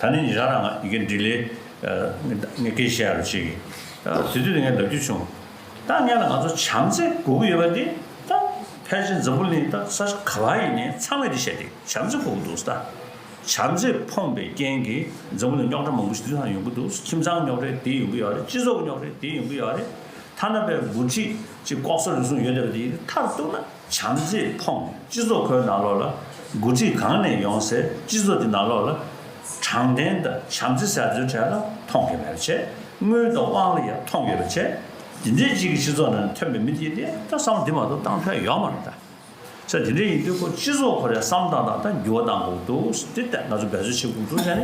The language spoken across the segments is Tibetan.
ད་ནི་ཉིན་ཞག་རང་ང་གི་འདྲི་ལེ། ངས་སྐད་ཆ་ཡར་རུ་བྱེད་ཀི། དེ་དུས་ལ་ངས་ལབ་རྒྱུ་བྱུང། ད་ངས་ལ་ང་ཚོ་བྱམས་བརྩེ་དགོས་ཀི་ཡོད་པ་དེ། ད་ཕལ་ཆེར་འཛམ་བུ་གླིང་ད་ས་ཆ་ག་ལ་ཡིན་ནའི་ཚང་མས་དེ་བཤད་དེ་བྱམས་བརྩེ་དགོས་ཀི་འདུག་ད། བྱམས་བརྩེ་ཕོངས་པའི་རྐྱེན་གིས་འཛམ་བུ་ལ་རྙོག་དྲ་མང་པོ་ཞིག་དུས་སང་ཡོང་གི་འདུག་ཁྱིམ་ཚང་རྙོག་དྲའི་དེ་ཡོང་གི་ཡོད་རེད་སྤྱི་ཚོགས་ཀི་རྙོག་དྲའི་དེ་ཡོང་གི་ཡོད་རེད། ཐ་ན་པའི་འགོ་ཁྲིད་ཀྱི་ལྐོག་ཟ་རུལ་སུངས་ཡོད་བསྡད་པ་དེ་ཡིན་རེད་མཐར་གཏུགས་ན། བྱམས་བརྩེས་ཕོངས་སྤྱི་ཚོགས་ཁོའི་ནང་ལོགས་ལ་འགོ་ཁྲིད་གང་ནས་ཡོང་སའི་སྤྱི་ཚོགས་ཀྱི་ནང་ལོགས་ལ་དྲང་བདེན་དང་བྱམས་བརྩེ་ཟེར་ཚོའི་གྲས་ལ་མཐོང་གི་མེད་པ་བྱས་དངུལ་དང་དབང་ལ་ཡང་མཐོང་གི་ཡོད་པ་བྱས་དེ་འདྲའི་སྤྱི་ཀྱི་སྤྱི་ཚོགས་ནང་ནས་ཐོན་པའི་མི་དེའི་ལས་ད་བསམ་བློ་དེ་མ་གཏོགས་གཏང་ཕན་ཡོག་མ་རེད་ད་ཆ་དེ་འདྲའི་ཡིན་དུས་ཁོ་སྤྱི་ཚོགས་ཁོ་རེ་བསམ་བཏང་དང་ད་འགྱུར་བ་གཏང་དགོས་ཀྱི་འདུག་དེ་ལྟར་ང་ཚོ་འབད་རྩོལ་བྱེད་དགོས་འདུག་བྱས་ནས།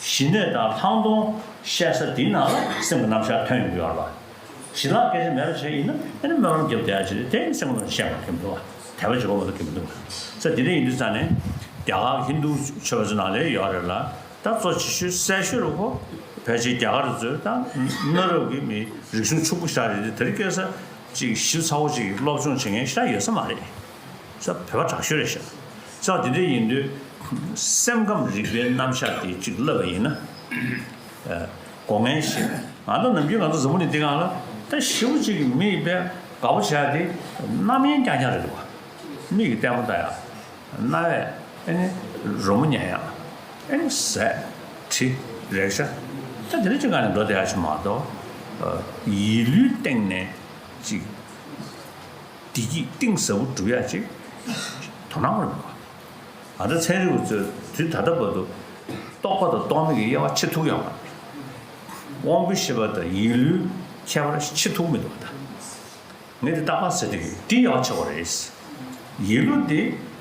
གཞི་སྣོད་དང་ལྷག་མཐོང་བཤད་ས་དེའི་ནང་ལ་སེམས་ཀྱི་རྣམ་གཞག་ཐོན་ཡོང་གི་ཡོད་རེད་པ། ཞི་ལྷག་སྐད་ཆ་མེད་པ་ཞིག་ཡིན་ན་དེ་ནི་སྨོན་ལམ་རྒྱབ་བསྡད་ཅེས་དེ་ཡང་སེམས་ཀྱི་ནང་ཞེན་པ་ཐེབས་འདུག་དད་པ་འཇོག་མི་ཐུབ་ཐེབས་འདུག་ས་དེ་འདྲ་ཡིན་དུས་ས་ནི་རྒྱ་གར་ཧིན་རྡུ་ཆོས་པ་ཚོའི་ནང་ལས་ཡོད་རེད་ལ་ད་གཙོ་ཆེ་ཤོས་གསལ་ཤོས་རེད་ཁོ་ཕལ་ཆེར་རྒྱ་གར་ཚོས་ད་གནའ་རབས་ཀྱི་མི་རིག་གཞུང་ཕྱུག་པོ་ཤ་རེད་དེ་དེར་སྐད་ས་ཅིག་ཞིབ་ཚགས་པོ་ཅིག་སློབ་སྦྱོང་བྱེད་མཁན་ཤ་ཡོད་ས་མ་རེད། ས་བོད་པ་དྲག་ཤོས་རེད་ཤག། ས་དེ་འདྲ་ཡིན་དུས། སེམས་ཁམས་རིག་པའི་རྣམ་གཞག་དེ་གཅིག་བསླབ་པ་ཡིན་ན། སྒོ་ངའི་བཤད། ང་ཚོ་ནམ་རྒྱུན་ང་ཚོ་ཟ་མོ་ནི་འདི་གང་ལ། ད་ཞི་བོ་གཅིག་གི་མི་ཡི་དཔལ། དགའ་བོ་བྱས་དེ། རྣམ་གཡེང་རྐྱང་རྐྱང་རེད་འདུག་བ། མིག་གི་ལྟད་མོ་ལྟ་ཡག། རྣ་བས། ཨེ་ནི། རོལ་མོ་ཉན་ཡག། ཨེ་ནི། ཟས། དྲི། རེག་བྱ། ད་དེ་འདྲ་གཅིག་གང་ནས་འགྲོ་བསྡད་ཡག་ཆེ་མ་གཏོགས། ཡིད་ལུས་སྟེང་ནས། གཅིག། བདེ་སྐྱིད་གཏིང་ཟབ་པོ་འགྲུབ་ཡ་ཅིག་དོ་སྣང་རེ་གནང། ང་ཚོ་ཚན་རིག་པ་ཚོས་དུས་ད་ལྟ་བར་དུ་རྟོགས་པ་དང་རྟོགས་མེད་ཀྱི་དབྱེ་བ་ཆེ་ཐུག་ཡང་མ་མཐོང། དབང་པོའི་ཤེས་པ་དང་ཡིད་ལུས་ཁྱད་པར་ཆེ་ཐུག་མི་འདུག་ད་ངས་དེ་ལྟ་གང་ཟེར་དུས་ཡིད་ཡང་ཆེ་བ་རེད། ཡིད་ལུས་དེ།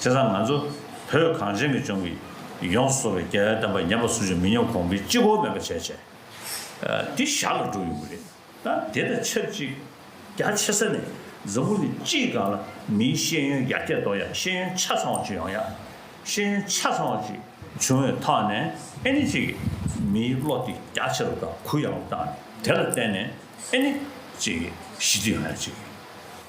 དེ་སང་ང་ཚོ་བོད་གངས་ཅན་གྱི་ལྗོངས་ཀྱི་ཡོངས་སུ་བཟོ་བའི་རྒྱལ་བའི་གདམས་པ་ཉམས་པ་སུ་ཞིག་མི་ཉམས་གོང་འཕེལ་ཅི་གོ་མེད་པ་བྱས་བྱས་དེ་ཞར་ལ་འགྲོ་ཡོང་གི་རེད་ད་དེ་དང་ཆབས་ཅིག་རྒྱ་ཆེ་ས་ནས་འཛམ་བུ་ནི་སྤྱིའི་སྒང་ལ་མིའི་ཤེས་ཡོན་ཡར་རྒྱས་གཏོང་ཡག་ཤེས་ཡོན་ཆ་ཚང་བ་ཅིག་ཡོང་ཡག་ཤེས་ཡོན་ཆ་ཚང་བ་ཅིག་བྱུང་བའི་ཐོག་ནས་ཨནི་ཅིག་གིས་མིའི་བློ་དེ་རྒྱ་ཆེ་རུ་དང་གུ་ཡངས་རུ་བཏང་ནས་དེ་ལ་བརྟེན་ནས་ཨནི་ཅིག་གིས་ཞི་བདེ་ཡོང་ཡག་ཅིག་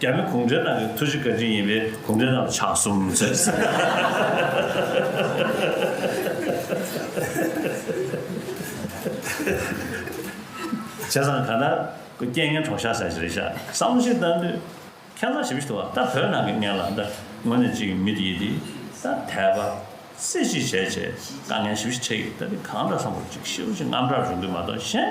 རྒྱ་མི་གུང་ཁྲན་ཏང་གི་ཐུགས་རྗེ་བཀའ་དྲིན་ཡིན་པས་གུང་ཁྲན་ཏང་ལ་ཕྱག་གསུམ་བྱས། བྱས་ཙང་གང་ལྟར་ཁོ་རྐྱེན་ངན་གྲོགས་ཤ་ཟ་ཞིག་རེད་ཤག་བསམ་བློ་ཞིག་བཏང་དུས། ཁྱེད་རང་ཞིབ་ཏུ་བ་ད་བོད་ནང་གི་ངན་ལགས་འདི་ངོ་ནས་ཅིག་མི་དེ་ཡི་དེ་ད་དད་པ། སེ་ཅིག་བྱས་བྱས་དཀའ་ངལ་ཞིབ་ཞིག་འཕྲད་ཀྱི་ད་དེ་གང་འདྲ་བསམ་བོར་ཅིག་ཤི་བོ་ཅིག་རྔམ་དྲག་རུ་འདུག་མ་གཏོགས་གཞན།